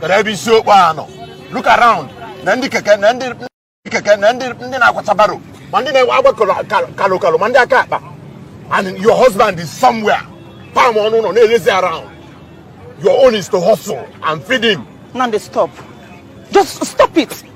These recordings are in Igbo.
Kedu ebe isi okpo a nọ? Look around na ndị keke na ndị ndị keke na ndị ndị na-akwata barrow ma ndị na-enwe agba kalo- kal- kalo kalo ma ndị aka akpa and your husband is somewhere pam ọ nọ ụlọ na-elezi around your own is to hustle and feed him Nande, stop. Just stop it.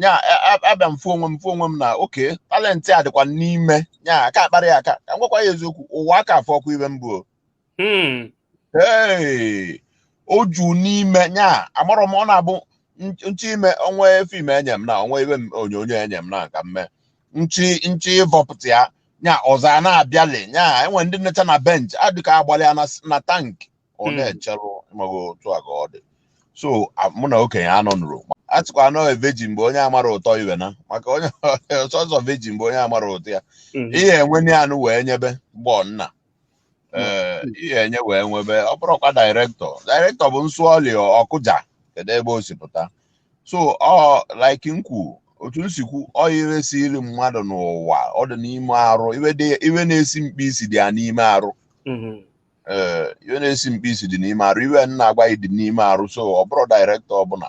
nya abịa m fụ onwe m fụ onwe m na okay talent a dịkwa n'ime ya a ka akparọ ya aka ka m gwakwa ya eziokwu ụwa aka afụrọkwa ife m bụ hmm. ee o ju n'ime ya amarọ m ọ na-abụ nche ime o nwee film e nye m na o nwee ife onyonyo e nye m na ka m mee nchi nchi ịvọpụta ya nya ọzọ a na-abịali nya enwe ndị nọcha na bench adịka agbalị ya na s- na tank ọ Mm. na-echerụ maghị otu a ka ọ dị so a- mụ na okenye anọ nụrụ a sịkwa anọ veji mgbe onye amara ụtọ ife na maka onye sọsọ veji mgbe onye amara ụtọ ya Mm. ihe e nwere anụ wee nyebe gbọ nna ee ihe enye wee nwebe ọ bụrụkwa director director bụ nsụọli ọkụja kedu ebe o si pụta so ọ like nkwu otu m si kwu ọ ife siri mmadụ n'ụwa ọ dị n'ime arụ ife dị- ife na-esi mkpi isi dị ya n'ime arụ Mhm. ee ife na-esi mkpi isi dị n'ime arụ ife m na-agwa ị dị n'ime arụ so ọ bụrụ director ọbụla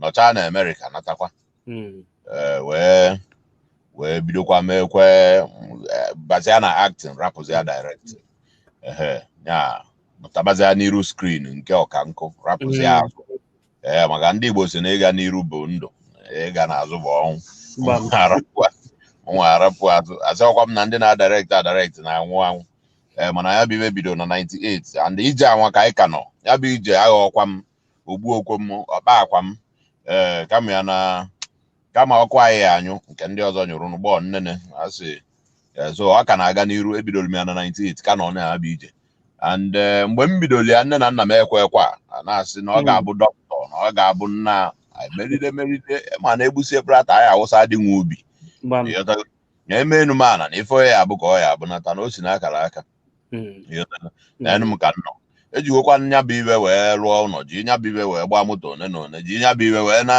nọchaa na America natakwa mm. eh, wee wee bidokwa meekwa eh, bazia na acting rapụzia directing ya pụtabazia n'iru screen nke ọka nkụ rapụzia mm. azụ ee eh, maka ndị Igbo sị na ịga n'iru bụ ndụ ịga n'azụ bụ ọnwụ mụwa arapụ azụ asịrọkwa m na ndị na-adirect adirect na-anwụ anwụ ee mana ya bụ ife bido na 98 and ije anwa ka anyị ka nọ ya bụ ije aghọọkwa m o gbuokwo m ọ kpaakwa m ee eh, kama ya na kama ọkụ anyị ya-anyụ nke ndị ọzọ nyụrụ n'ụgbọ nnene asị eh, so ọ ka na-aga n'iru ebidoro m ya na 98 ka nọ na ya bụ ije and eh, mgbe m bidoro ya nne na nna m ekwekwa a na-asị na ọ hmm. ga-abụ dọkịta na ọ ga-abụ nna meride meride mana egbusie prata anyị awụsa dị nwa ubi na emenu mana na ife ya-abụ ka ọ ya-abụ nata na o si n'akara aka na m ka nọ ejigokwa nya bụ ife wee rụọ ụlọ ji nya bụ ife wee gbaa moto one na one ji nya bụ ife wee na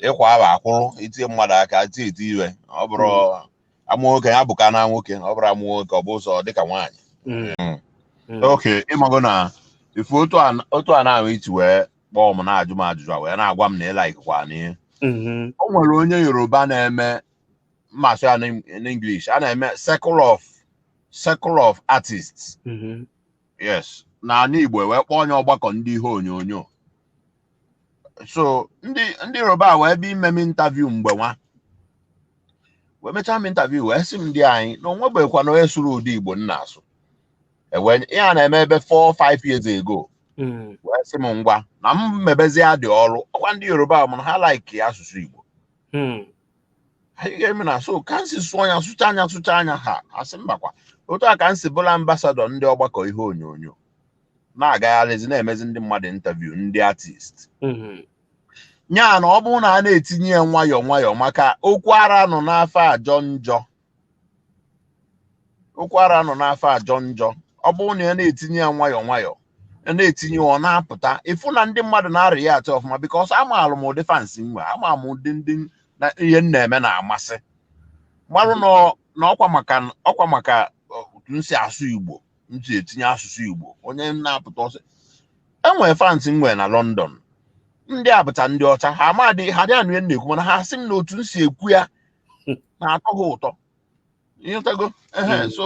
ịkwa ahụ akwụrụ itinye mmadụ aka tie eti ife ọ bụrụ hmm. amụ nwoke ya bụ ka na nwoke ọ bụrụ amụ nwoke ọ bụ ụzọ dịka nwaanyị hmm. Hmm. okay ị mago na ife otu a na-ahụ iti wee kpọọ m na-ajụ m ajụjụ a wee na-agwa m na ị likekwa n'ihe o nwere onye Yoruba na-eme ma a sụọ ya n'English a na-eme circle of circle of artists mhm. yes na ala Igbo wee kpọọ nya ọgbakọ ndị ihe onyonyo so ndị ndị Yoruba wee bịa ime m interview mgbe nwa wee mechaa m interview wee sị m dịanyị na o nwebekwanụ onye sụrụ ụdị Igbo m na-asụ ihe a na-eme ebe 4 5 years ago hmm. wee sị m ngwa na m mebezie ụdị ọrụ ọkwa ndị Yoruba mana ha like asụsụ Igbo hmm. anyị ga-eme na so ka m si sụọ nya sụchaa nya sụchaa nya ha asị mba kwa otu a ka m si bụlụ ambasadọ ndị ọgbakọ ihe onyonyo na-agagharịzi na-emezi ndị mmadụ interview ndị artist mhm. nya na ọ bụrụ na a na-etinye ya nwayọọ nwayọọ maka okwu ara anọ n'afọ ajọ njọ okwu ara anọ n'afọ ajọ njọ ọ bụrụ na a na-etinye ya nwayọọ nwayọọ ya na-etinye ọ na-apụta ị fụ na ndị mmadụ na-react ọfụma because amaalụ m ụdị fans m nwe ama m ụdị ndị na ihe m na-eme na-amasị marụ na ọ- na ọkwa maka ọkwa maka otu m si asụ igbo m si etinye asụsụ igbo n'ihe m na-apụta also e nwere fans m nwe na london ndị a bụcha ndị ọcha ha amadị ha adị anụ ihe m na-ekwu mana ha sị m na otu m si ekwu ya na-atọ ha ụtọ ị ghọtago ehe Mm. so